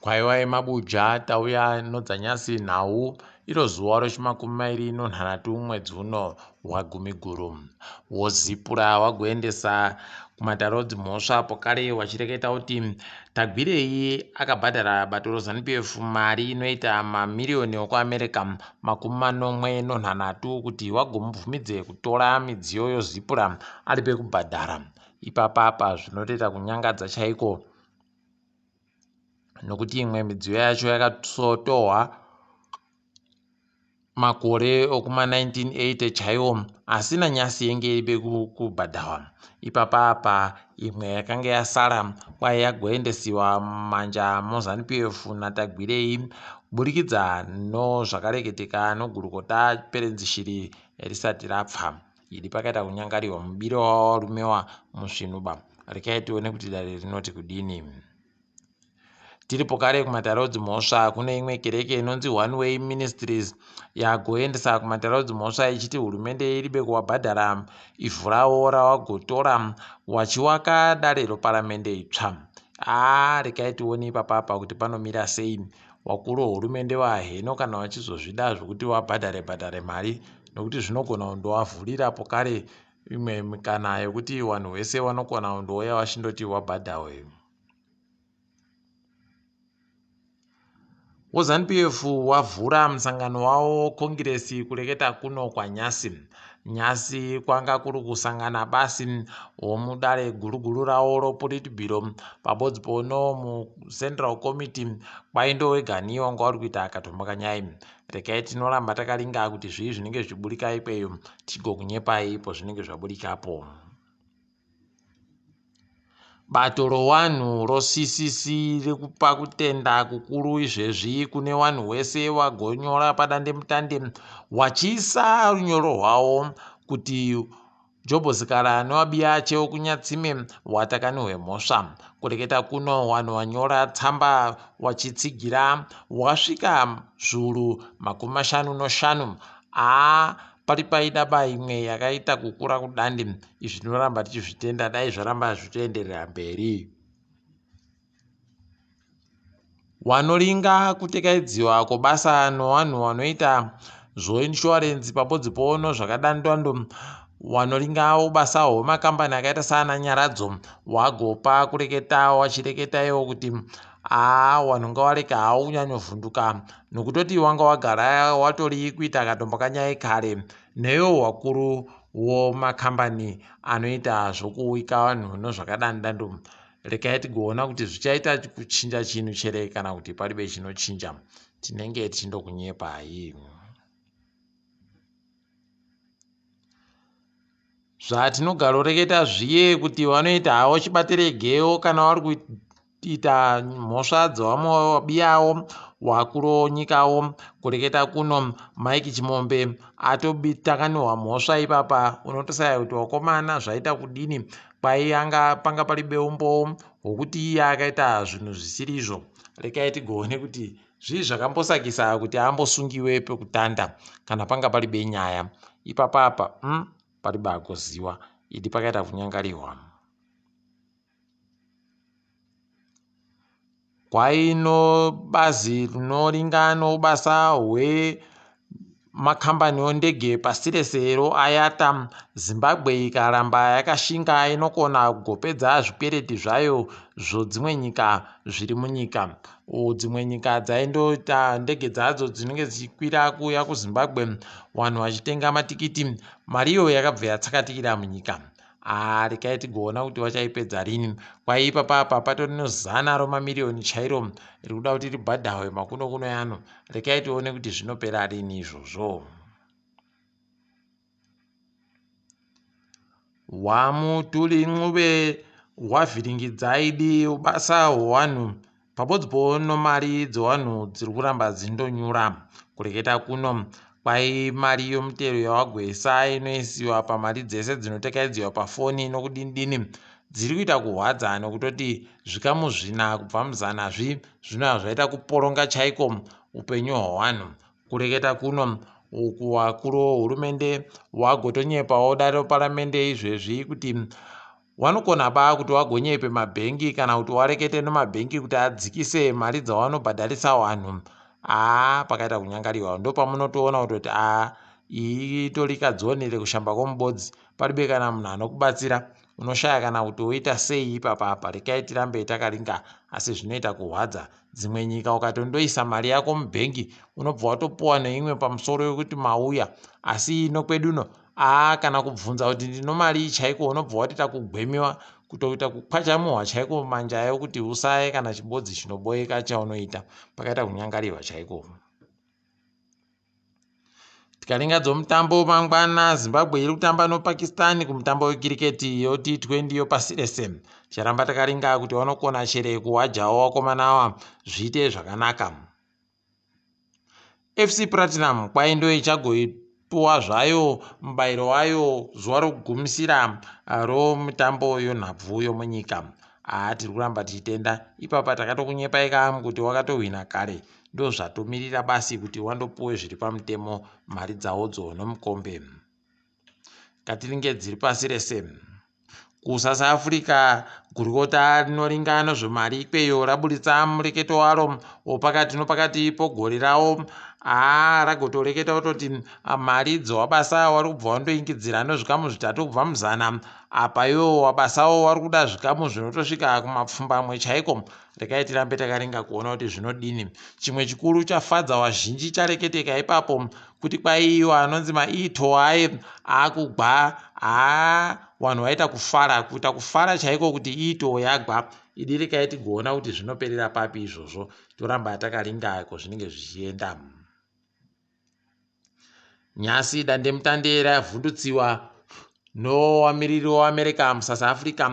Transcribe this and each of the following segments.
Kwaiva yemabuja tauya nodzanyasi nhau iro zuva rochimakumi mairi nonhanhatu mwedzi uno waGumiguru. Wozipura wagoendesa kumatarodzi mhosva apo kare wachireketa kuti Tagwirei akabhadhara bato roZanu PF mari inoita mamiriyoni okuAmerica makumi manomwe nonhanhatu kuti wagomubvumidze kutora midziyo yozipura alipe kubhadhara ipapa apa zvinotoita kunyangadza chaiko nokuti imwe midziyo yacho yakatotohwa makore okuma 1980 chaiwo asi nanyasi yenge iribe kubhadharwa Ipapa apa imwe yakange yasara kwaye yagoendesiwa mumanja moZanu-PF naTagwirei kuburikidza nozvakareketeka nogurukota Perenzi Shiri risati rapfa. Idi pakaita kunyangariwa mubiro wawarumewa musvinuba. Rekai tione kuti dare rinoti kudini. Tiripo kare kumatare odzimhosva, kune imwe kereke inonzi One Way Ministries yagoendesa kumatare odzimhosva ichiti hurumende iribe kuwabhadhara ivhurawo rawagotora wachiwaka dare roparamende itsva. Aa, rekai tione ipapa apa kuti panomira sei. Wakuru hurumende waheno kana wachizozvida zvokuti wabhadhare bhadhare mari nokuti zvinogona kundowavhurira po kare imwe mikana yokuti wanhu wese wanokona kundouya wachindoti wabhadhawe. WaZanu PF wavhura musangano wawo kongiresi kureketa kuno kwaNyasi. Nyasi kwanga kuri kusangana basi womudare guruguru rawo roPolitburo pabodzi pono muCentral Committee kwaindo weganiyo wanga wari kuita akatomboka nyai. Rekai tinoramba takaringa kuti zvii zvinenge zvichiburika ikweyo tigokunyepai pozvinenge zvaburikapo. Bato rowanhu roCCC rikupa kutenda kukuru izvezvi kune wanhu wese wagonyora padandemutande wachiisa runyoro rwawo kuti Jobhosikara newaBiyache wokunyatsime watakani hwemhosva. Kureketa kuno wanhu wanyora tsamba wachitsigira wasvika zvuru makumi mashanu noshanu a Pari paida ba imwe yakaita kukura kudandi izvi tinoramba tichizvitenda dai zvaramba zvitoenderera mberi. Wanoringa kutekaidziwa kobasa nowanhu wanoita zvoinshuwarenzi pabodzi pono zvakadandwando wanoringawo basa hwemakambani akaita saana nyaradzo wagopa kureketa wachireketa iwo kuti aa wanhu ngawareka haunyanyovhunduka nokutoti wanga wagara watori kuita katombo kanyaya kare neyo wakuru womakambani anoita zvokuwika vanhu nozvakadandando rekai tigoona kuti zvichaita kuchinja chinhu chere kana kuti palibe chinochinja tinenge tichindokunyepai zvatinogaroreketa zviye kuti vanoita havo chibatirei geo kana vari Kuita mhosva dzewamobiyawo wakuronyikawo kureketa kuno Mike Chimombe atobitakanihwa mhosva ipapa unotosaya kuti wakomana zvaita kudini kwaiyanga panga pari beumbowo hwokuti iye akaita zvinhu zvisiri izvo rekai tigoone kuti zvii zvakambosakisa kuti ambosungiwe pekutanda kana panga pari benyaya ipapapa mm, pari bagoziwa idi pakaita kunyangarihwa Kwaino bazi rinoringano ubasa hwe makambani ondege pasi rese ro IATA, Zimbabwe ikaramba yakashinga inokona kugopedza zvikwereti zvayo zvo dzimwe nyika zviri munyika. U dzimwe nyika dzaindoita ndege dzadzo dzinenge dzichikwira kuuya kuZimbabwe vanhu vachitenga matikiti, mariyo yakabva yatsakatikira munyika. Ah, rekai tigoona kuti vachaipedza rini. Kwai ipapa apa patori nozana romamiriyoni chairo rikuda kuti ribhadhahwe makuno kuno yano. Rekai tione kuti zvinopera rini izvozvo. Wamutuli Ncube wavhiringidzai dii ubasa hwewanhu Pabods pono mari dzewanhu dziri kuramba dzindonyura. Kureketa kuno kwai mari yomutero yawagwesa inoisiwa pamari dzese dzinotekaidziwa pafoni nokudinidini dziri kuita kuhwadza nokutoti zvikamu zvina kubva muzana zvi zvinova zvaita kuporonga chaiko upenyu hwewanhu. Kureketa kuno uku wakuru wohurumende wagotonyepawo dare reparamende izvezvi kuti Wanokona baa kuti wagonyepe mabhengi kana kuti warekete nemabhengi kuti adzikise mari dzawanobhadharisa wanhu aa pakaita kunyangariwa ndopamunotoona kutoti aa iyi itori kadzoni rekushamba komubodzi paribe kana munhu anokubatsira unoshaya kana kuti woita sei ipapa apa rekai tirambe takaringa asi zvinoita kuhwadza dzimwe nyika ukatondoisa mari yako mubhengi unobva watopuwa neimwe pamusoro yokuti mauya asi ino kweduno aa kana kubvunza kuti ndinomarii chaiko unobva wati takugwemiwa kutoita kukwachamuhwa chaiko manje ayo kuti usaye kana chibodzi chinoboeka chaunoita pakaita kunyangarirwa chaiko tikaringa dzomutambo mangwana zimbabwe iri kutamba nopakistan kumutambo wekiriketi yoti 20 yopasi rese ticharamba takaringa kuti wanokona chere kuwajawo wakomana awa zviite zvakanaka FC Platinum kwai ndo ichagoipuwa zvayo mubairo wayo zuva rokugumisira romutambo yonhabvu yomunyika. Haa tiri kuramba tichitenda. Ipapa takatokunyepai ka kuti wakatohwina kare ndozvatomirira basi kuti wandopuwe zviri pamutemo mari dzawodzo nomukombe. ngatiringe dziri pasi rese kuSouth Africa gurukota rinoringa nezvemari ikweyo raburitsa mureketo waro wopakati nopakati pogore rawo aa ragotoreketa kutoti ah, mari idzo wabasa wari kubva wandoingidzira nezvikamu zvitatu kubva muzana apa iwo wabasawo wari kuda zvikamu zvinotosvika kumapfumbamwe chaiko Regai tirambe takaringa kuona kuti zvinodini. Chimwe chikuru chafadza wazhinji chareketeka ipapo kuti kwaiyo anonzi maito aye akugwa haa vanhu vaita kufara kuita kufara chaiko kuti iito yagwa idi rekai tigoona kuti zvinoperera papi izvozvo toramba takaringa ko zvinenge zvichienda Nhasi dandemutande ravhundutsiwa nowamiriri weAmerica muSouth Africa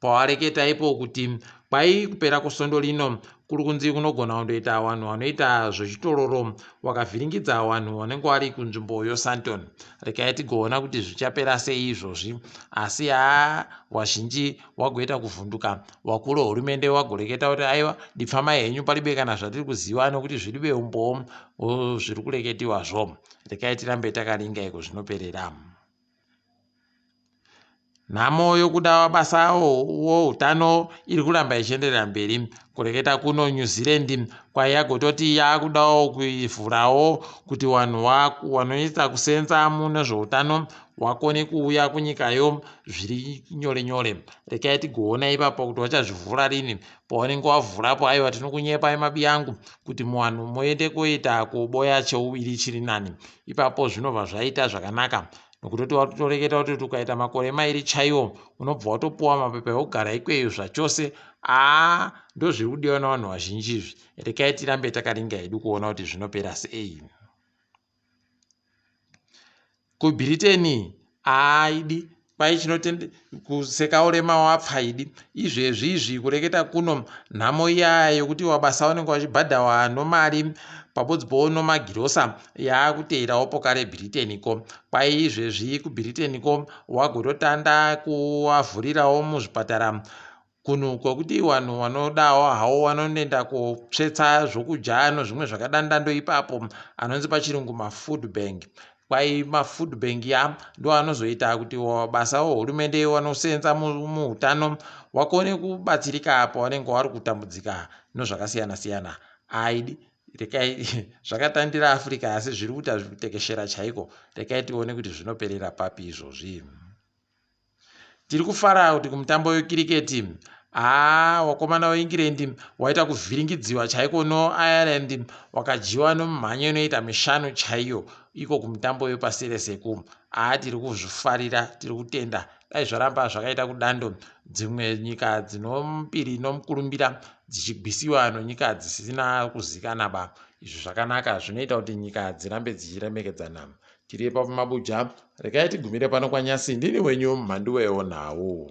pawareketa ipo kuti kwai kupera kwesondo rino kuri kunzi kunogona kundoita vanhu vanoita zvechitororo wakavhiringidza vanhu vanenge vari kunzvimbo yoSanton. Rekai tigoona kuti zvichapera sei izvozvi, asi haa vazhinji wagoita kuvhunduka wakuru hurumende wagoreketa kuti aiwa dipfamai henyu palibe kana zvatiri kuziva nokuti zviribe umbowo zviri kureketiwa zvo rekai tirambe takaringa iko zvinoperera nhamo yokuda basa woutano iri kuramba ichienderera mberi kureketa kuno new zealand kwaiya kutoti yakudawo kuivhurawo kuti vanhu vanoita kusenza mune zveutano wakone kuuya kunyikayo zviri nyore nyore rekai tigoona ipapo kuti vachazvivhura rini paunenge wavhurapo aiwa tinokunyepa imabi yangu kuti muvanhu moende kuita kuboya cheuviri chiri nani ipapo zvinobva zvaita zvakanaka nokutoti watotoreketa kutoti ukaita makore mairi chaiwo unobva watopuwa mapepa eugara ikweyo zvachose aa ndozviri kudiwa navanhu vazhinji izvi rekai tirambe takaringa hedu kuona kuti zvinopera sei kubritain aaidi kwai chinotende kuseka urema wapfaidi izvezvi izvi kureketa kuno nhamo iyaya yokuti wabasa wanenge wachibhadhawa nomari pabodzbowo nomagirosa yaakuteirawo pokare britain ko kwai izvezvi kubritain ko wagototanda kuwavhurirawo muzvipatara kunhu kwekuti wanhu wanodawo hawo wanonenda kotsvetsa zvokudya nozvimwe zvakadandando ipapo anonzi pachirungu mafood bank kwai mafood bank ya ndo anozoita kuti basa wehurumende wanosenza muutano wakone kubatsirika apo wanenge wari kutambudzika nozvakasiyana siyana aidi rekai zvakatandira africa asi zviri kuita zviri kutekeshera chaiko rekai tione kuti zvinoperera papi izvozvi Tiri kufara kuti kumutambo wekiriketi, haa wakomana weEngland waita kuvhiringidziwa chaiko noIreland wakadyiwa nomumhanyo inoita mishanu chaiyo iko kumutambo wepasi rese ku haa tiri kuzvifarira tiri kutenda dai zvaramba zvakaita kudando dzimwe nyika dzinombiri nomukurumbira dzichigwisiwa nonyika dzisina kuzikanaba izvi zvakanaka zvinoita kuti nyika dzirambe dzichiremekedzana Tiri ipapo mabuja, regai tigumire pano kwaNyasi, ndini wenyu Mhanduwewo nhau.